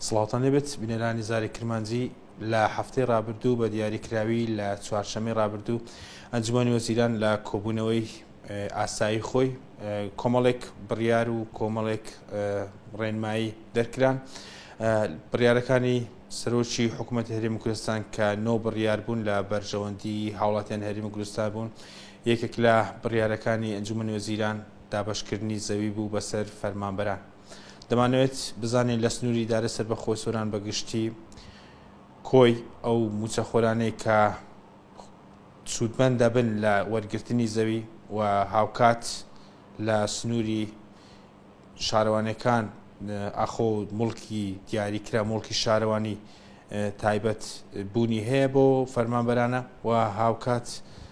سڵاوتان لێبێت بینەرانی زاری کرمانجی لە هەفتەی رابردوو بە دیاریکراوی لە چوارشەمەی رابردوو ئەنجومانی وەزیران لە کۆبوونەوەی ئاسایی خۆی کۆمەڵێک بڕیار و کۆمەڵێک ڕێنمایی دەرکران بڕیارەکانی سەرۆکی حکوومەت هەرێمی کوردستان کە نۆ بڕیار بوون لە بەرژەوەندی هاوڵاتیان هەرێمی کوردستان بوون یەکێک لە بڕیارەکانی ئەنجومنی وەزیران دابشکردنی زەوی بوو بەسەر فەرمانبەران دەمانەوێت بزانین لە سنووری ئیدارەی سەربەخۆی سۆران بە گشتی کۆی ئەو موچەخۆرانەی کە سوودمەند دەبن لە وەرگرتنی زەوی و هاوکات لە سنووری شارەوانەکان ئاخۆ مڵکی دیاریکرا مڵکی شارەوانی تایبەت بوونی هەیە بۆ فەرمانبەرانە و هاوکات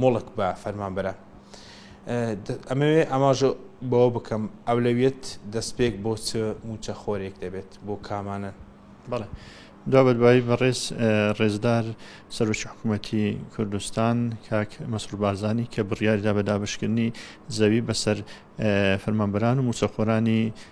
موڵک بە فەرمانبەرە. ئەمەوێ ئاماژە بەوە بکەم ئەولەویەت دەستپێک بۆ چ موچە خۆرێک دەبێت بۆ کامانن. بەڵێ دو بەدوایی بەڕێز ڕێزدار سەرۆکی حکوومەتی کوردستان کاک مەسرور بارزانی کە بڕیاریدا بە دابشکردنی زەوی بەسەر فەرمانبەران و موچەخۆرانی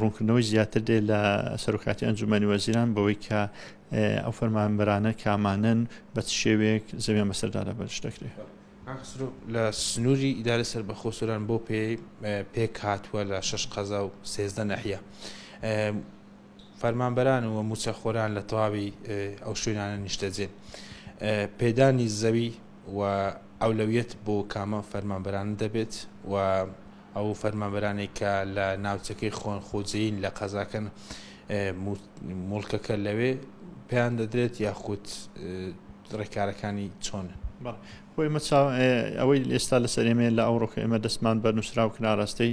ڕوونکردنەوەی زیاتر دێت لە سەرۆکاتی ئەنجومەنی وەزیران بەوەی کە ئەو فەرمانبەرانە کامانن بە چ شێوەیەک زەویان بەسەردا لەبەرش دەکرێت. لە سنووری ئیدارەی سەربەخۆ سۆران بەو پێ پێک هاتووە لە شەش قەزا و سێزدە نەحیە فەرمانبەران و موچەخۆران لە تەواوی ئەو شوێنانە نیشتەجێن پێدانی زەوی و ئەولەویەت بۆ کامە فەرمانبەران دەبێت و ئەو فەرمانبەرانەی کە لە ناوچەکەی خۆن خۆجێین لە قەزاکەن مڵکەکە لەوێ پێیان دەدرێت یاخود ڕێکارەکانی چۆنن خۆی مەچاو ئەوەی ئێستا لە سەرێمێ لە ئەوڕۆکە ئێمە دەستمان بە نووسراو کناڕاستەی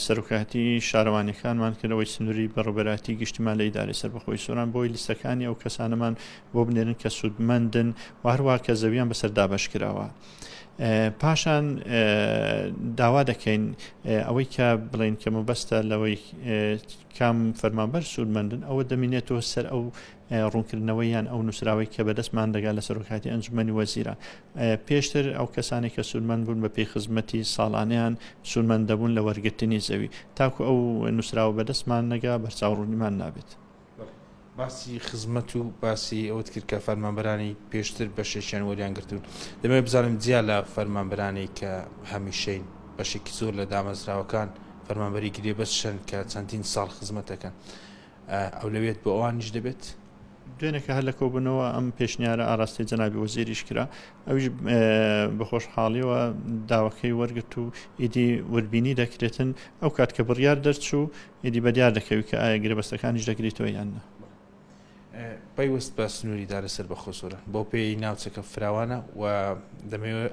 سەرکاتی شارەوانەکانمان کردەوەی سنووری بەڕبەراتی گشتیمان لە ئیداری سەر بەخۆی سۆران بۆی لیستەکانی ئەو کەسانەمان بۆ بنێرن کە سوودمەندن وهروە کە زەویان بەسەر دابش کراوە پاشان داوا دەکەین ئەوەی کە بڵێن کە مەبەستە لەوەی کام فەرمانبەر سوودمەندن ئەوە دەمینێتەوە سەر ئەو ڕوونکردنەوە یان ئەو نووسراوەی کە بەدەستمان دەگا لە سەرۆکاتی ئەنجومەنی وەزیران پێشتر ئەو کەسانی کە سوودمەن بوون بە پێی خزمەتی ساڵانیان سوودمەند دەبوون لە وەرگرتنی زەوی تاکو ئەو نووسراوە بەدەستمان نەگا بەرچاو ڕوونیمان نابێت. باسی خزمەت و باسی ئەوەت کرد کە فەرمانبەرانی پێشتر بەشێکیان وەریان گرتوون دەمەوێت بزانم جیا لە فەرمانبەرانی کە هەمیشەین بەشێکی زۆر لە دامەزراوەکان فەرمانبەری گرێبەست شەن کە چەندین ساڵ خزمەتەکەن ئەو لەوێت بۆ ئەوانیش دەبێت دوێنێکە هەر لە کۆبنەوە ئەم پێشنیارە ئاراستەی جەنابی وەزیریش کرا ئەوش بەخۆش حاڵیەوە داوەکەی وەرگرت و ئیدی وردبینی دەکرێتن ئەو کات کە بڕیار دەرچوو ئیدی بە دیار دەکەوی کە ئایا گرێبەستەکانیش دەگریتەوە یان نا. پەیوەست بە سنووری دا لەسەر بەخۆ سۆران، بەو پێیەی ناوچەکە فراوانە و دەمەوێت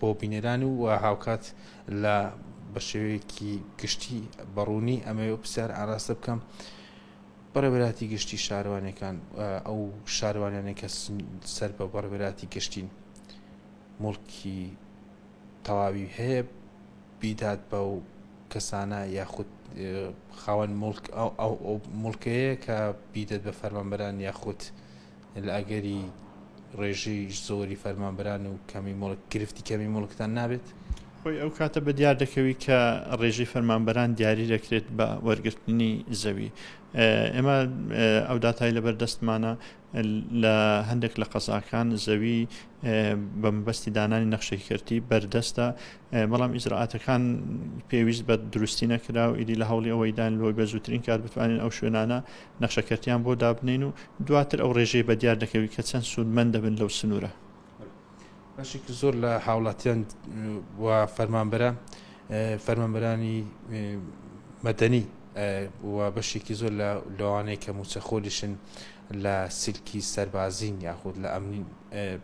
بۆ بینەران و هاوکات لە بە شێوەیەکی گشتی بە ڕوونی ئەمەوێت پرسیار ئاراستە بکەم بەڕێبەراتی گشتی شارەوانەکان ئەو شارەوانیانە کە سەر بە بەڕێبەراتی گشتین مڵکی تەواوی هەیە بیدات بەو کەسانە یاخود خاوەن مڵک ئەو مڵکەیە کە بیدەت بە فەرمانبەران یاخود لە ئەگەری ڕێژەی زۆری فەرمانبەران و کەمی مڵک گرفتی کەمی مڵکتان نابێت خۆی ئەو کاتە بە دیار دەکەوی کە ڕێژەی فەرمانبەران دیاری دەکرێت بە وەرگرتنی زەوی ئێمە ئەو داتای لەبەر دەستمانە لە هەندێک لە قەزاکان زەوی بە مەبەستی دانانی نەخشێکی کەرتی بەردەستە بەڵام ئیزراعاتەکان پێویست بە دروستی نەکرا و ئیدی لە هەوڵی ئەوەیدان لۆی بە زووترین کار بتوانین ئەو شوێنانە نەخشەکەرتیان بۆ دابنین و دواتر ئەو ڕێژەی بە دیار دەکەوی کە چەند سوودمەند دەبن لەو سنوورە. بەشێکی زۆر لە هاوڵاتیان و فەرمانبەرە فەرمانبەرانی مەدەنی و بەشێکی زۆر لە لەوانەیە کە موچەخۆلیشن لە سلکی سەربازین یاخود لە ئەمنین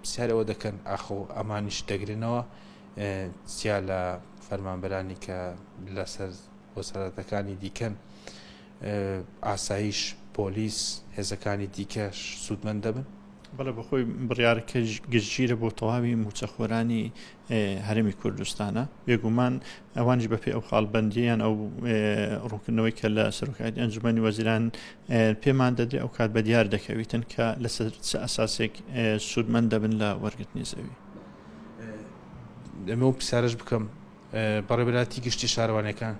پرسیارەوە دەکەن ئاخۆ ئەمانیش دەگرنەوە سیا لە فەرمانبەرانی کە لەسەر وەسەرەتەکانی دیکەن ئاسایش، پۆلیس، هێزەکانی دیکەش سوودمەند دەبن؟ بەڵێ بەخۆی بڕیارەکە گشتگیرە بۆ تەواوی مووچەخۆرانی هەرێمی کوردستانە بێگومان ئەوانش بەپی ئەو خاڵبندیان ئەو ڕوونکردنەوەی کە لە سەرۆکایەتی ئەنجومی وەزیران پێمان دەدرێ ئەو کات بە دیار دەکەویتن کە لەسەر ئەساسێک سوودمەند دەبن لە وەرگرتنی زەوی ئەمە و پرسیارش بکەم بەڕێوەبەرایەتی گشتی شارەوانیەکان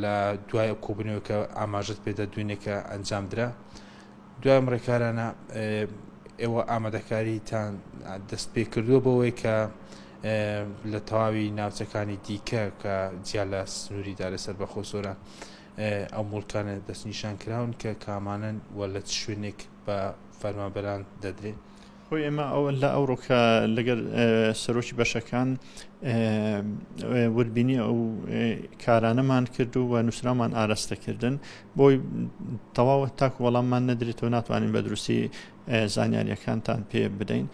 لە دوای ئەو کۆبنەوە کە ئاماژت پێدا دوێنێ کە ئەنجام درا دوای ڕێکارانە ئێوە ئامادەکاریتان دەست پێ کردووە بەوەی کە لە تەواوی ناوچەکانی دیکە کە جیا لە سنووری دارە سەر بەخۆ سۆرە ئەو مڵکانە دەستنیشان کراون کە کامانن و لە چ شوێنێک بە فەرمابەران دەدرێت خۆی ئێمە لە ئەوڕۆ کە لەگەر سەرۆکی بەشەکان وردبینی ئەو کارانەمان کرد و و نووسرامان ئاراستەکردن بۆی تەواوە تاکو وەڵاممان نەدرێتەوە ناتوانین بە دروستی زانیاریەکانتان پێ بدەین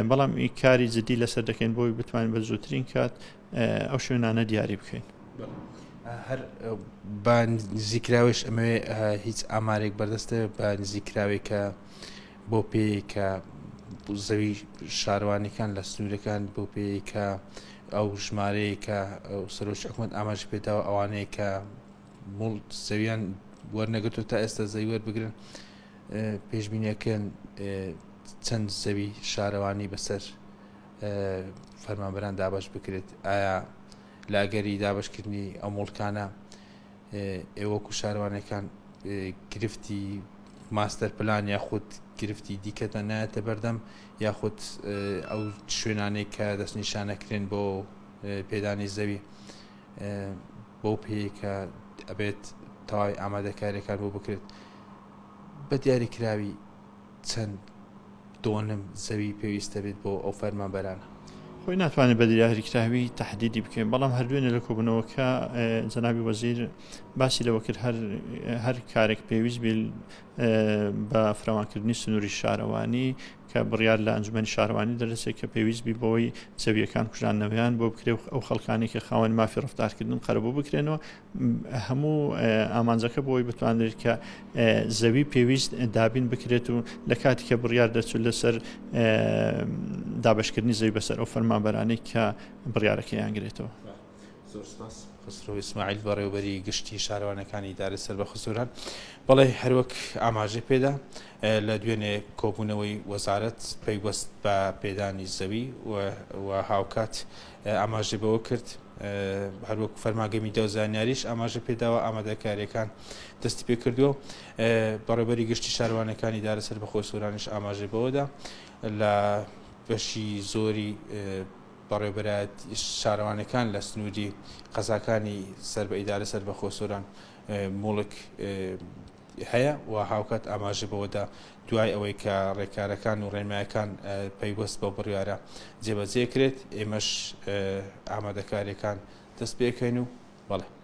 بەڵام ئی کاری جددی لەسەر دەکەین بۆی بتوانین بە زووترین کات ئەو شوێنانە دیاری بکەین. هەر بە نزیکراوێش ئەمەوێ هیچ ئامارێک بەردەستە بە نزیکراوێکە بەو پێیەی کە زەوی شارەوانیەکان لە سنوورەکان بەو پێیەی کە ئەو ژمارەیە کە سەرۆکی حکوومەت ئاماژ پێداوە ئەوانەیە کە مڵ زەویان وەرنەگرتو تا ئێستا زەوی وەربگرن پێشبینیەکەن چەند زەوی شارەوانی بەسەر فەرمانبەران دابش بکرێت ئایا لاگەری دابشکردنی ئەو مڵکانە ئێ وەکو شارەوانەکان گرفتی ماستەر پلان یاخود گرفتی دیکەتان نایەتە بەردەم یاخود ئەو شوێنانەی کە دەستنیشانەکرێن بۆ پێدانی زەوی بەو پێیکە ئەبێت تەواوی ئامادەکاریەکان بۆ بکرێت بە دیاریکراوی چەند دۆنم زەوی پێویست دەبێت بۆ ئەو فەرمانبەرانە؟ خۆی ناتوانێت بە دراهریکراوی تەحدیدی بکەین، بەڵام هەر دوێنێ لە کۆبوونەوەکە جەنابی وەزیر باسی لەوە کرد هەر کارێک پێویست بێ بە فراوانکردنی سنووری شارەوانی کە بڕیار لە ئەنجومەنی شارەوانی دەرەسێت کە پێویست بی بەوەی زەویەکان کوژانەوەیان بۆ بکرێ ئەو خەڵکانی کە خاوەن مافی ڕفتارکردن قەرەبوو بکرێنەوە هەموو ئامانجەکە بۆ ئەوەی بتوانرێت کە زەوی پێویست دابین بکرێت و لە کاتی کە بڕیار دەرچوو لەسەر دابشکردنی زەوی بەسەر ئەو فەرمانبەرانەی کە بڕیارەکەیان گرێتەوە. زۆر سپاس خسرو ئیسماعیل بەڕێوبەری گشتی شارەوانەکانی ئیدارەی سەر بە خزوران بەڵێ هەروەک ئاماژەی پێدا لە دوێنێ کۆبوونەوەی وەزارەت پەیوەست بە پێدانی زەوی و هاوکات ئاماژەی بەوەکرد، هەروەکو فەرمانگەی میدیا و زانیاریش ئاماژەی پێداوە، ئامادەکارییەکان دەستیپێکردووە و بەڕێوەبەری گشتی شارەوانییەکانی ئیدارە سەربەخۆی سۆرانیش ئاماژەی بەوەدا، لە بەشی زۆری بەڕێوەبەرایەتیی شارەوانییەکان لە سنووری قەزاکانی سەر بە ئیدارە سەربەخۆی سۆران موڵک هەیە و هاوکات ئاماژە بەوەدا دوای ئەوەی کە ڕێکارەکان و ڕێنمایەکان پەیوەست بەو بڕیارە جێبەجێ کرێت ئێمەش ئامادەکاریەکان دەست پێکەین و بەڵێ